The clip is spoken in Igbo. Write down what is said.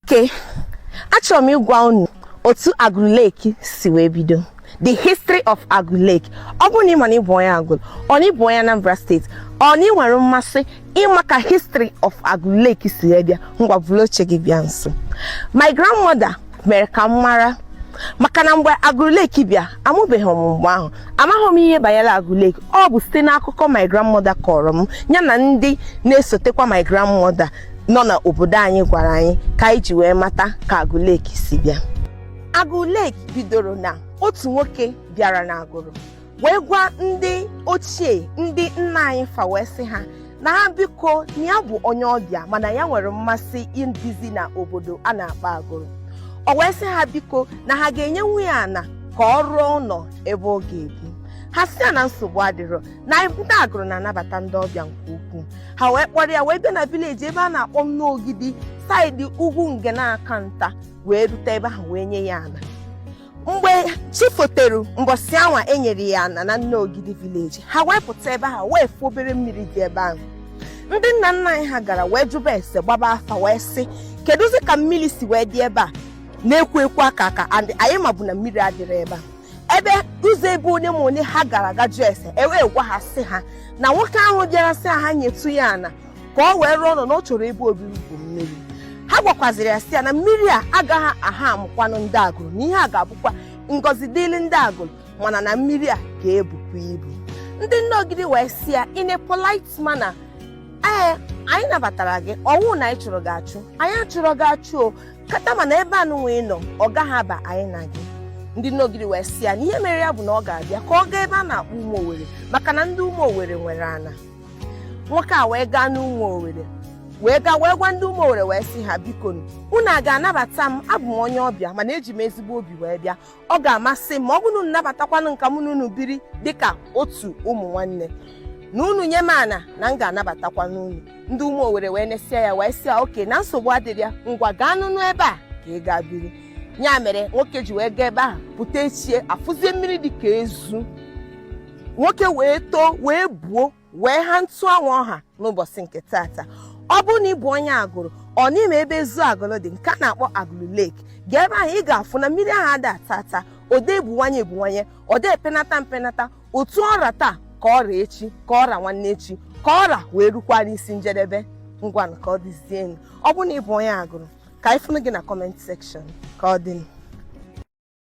Okay, achọrọ m ịgwa unu otu Agulu Lake si wee bido the history of Agulu Lake ọ bụrụ na ị ma na ị bụ onye Agulu or na ị bụ onye Anambra State or na ị nwere mmasị ịma ka history of Agulu Lake si wee bịa ngwa buru oche gị bịa nso my grandmother mere ka m mara maka na mgbe Agulu Lake bịa amụbeghị m mgbe ahụ amaghị m ihe banyere Agulu Lake ọ bụ site n'akụkọ my grandmother kọrọ m ya na ndị na-esotekwa my grandmother nọ na obodo anyị gwara anyị ka anyị ji wee mata ka Agulu Lake si bịa Agulu Lake bidoro na otu nwoke bịara na Agulu wee gwa ndị ochie ndị nna anyị fa wee sị ha na ha biko na ya bụ onye ọbịa mana ya nwere mmasị ịdịzi na obodo a na-akpọ Agulu o wee sị ha biko na ha ga-enyenwu ya ana ka ọ rụọ ụnọ ebe ọ ga-ebi ha sị ya na nsogbu adịrọ na ndị Agulu na-anabata ndị ọbịa nke ukwuu ha wee kpọrọ ya wee bịa na village ebe a na-akpọ Nneogidi side ugwu nge na-aka nta wee rute ebe ahụ wee nye ya ana mgbe chi fotere mbọsị anwa e nyere ya ana na Nneogidi village ha wee pụta ebe ahụ wee fụ obere mmiri dị ebe ahụ ndị nna nna anyị ha gara wee jụba ese gbaba afa wee sị kedụzi ka mmiri si wee dị ebe a na-ekwo ekwo aka aka and anyị mabu na mmiri adịrọ ebe a ebe ụzọ ebe onye ma onye ha gara aga jụọ ese e wee gwa ha sị ha na nwoke ahụ bịara sị ha nyetụ ya ana ka ọ wee rụọ ụnọ na ọ chọrọ ebe obibi bụ mmiri ha gwakwaziri ya sị ya na mmiri a agaghị aha amụkwanụ ndị Agulu na ihe a ga-abụkwa ngọzi dịịrị ndị Agulu mana na mmiri a ga-ebukwa ibu ndị Nneogidi wee sị ya in a polite manner ee anyị nabatara gị ọnwụ na anyị chụrụ gị achụ anyị achụrọ gị achụ o kata mana ebe a nụnwa ị nọ ọ gaghị aba anyị na gị ndị Nneogidi wee sị ya na ihe mere ya bụ na ọ ga-abịa ka ọ gaa ebe a na-akpọ ụmụ owere maka na ndị ụmụ owere nwere ana nwoke a wee gaa n'ụmụ owere wee gaa wee gwa ndị ụmụ owere wee sị ha biko unu a ga-anabata m abụ m onye ọbịa mana eji m ezigbo obi wee bịa ọ ga-amasị m ma ọ bụrụ na unu nabatakwanụ m ka mụ na unu biri dịka otu ụmụ nwanne na unu nye m ana na m ga-anabatakwanụ unu ndị ụmụ owere wee nesịa ya wee sị ya okay na nsogbu adịrọ ya ngwa gaa nụnụ ebe a ka ị gaa biri ya mere nwoke ji wee gaa ebe ahụ pụta echie afụzie mmiri dị ka ezu nwoke wee too wee buo wee ha otu anwa ọ ha n'ụbọsị nke tata ọ bụrụ na ị bụ onye Agulu or na ị ma ebe ezu Agulu dị nke a na-akpọ Agulu Lake gaa ebe ahụ ị ga-afụ na mmiri ahụ ada ata ata ọ da ebuwanye ebuwanye ọ da epenata mpenata otu ọ ra taa ka ọ ra echi ka ọ ra nwanne echi ka ọ ra wee rukwara isi njedebe ngwanụ ka ọ dịzienụ ọ bụrụ na ị bụ onye Agulu ka anyị fụnụ gị na comment section ka ọ dịnụ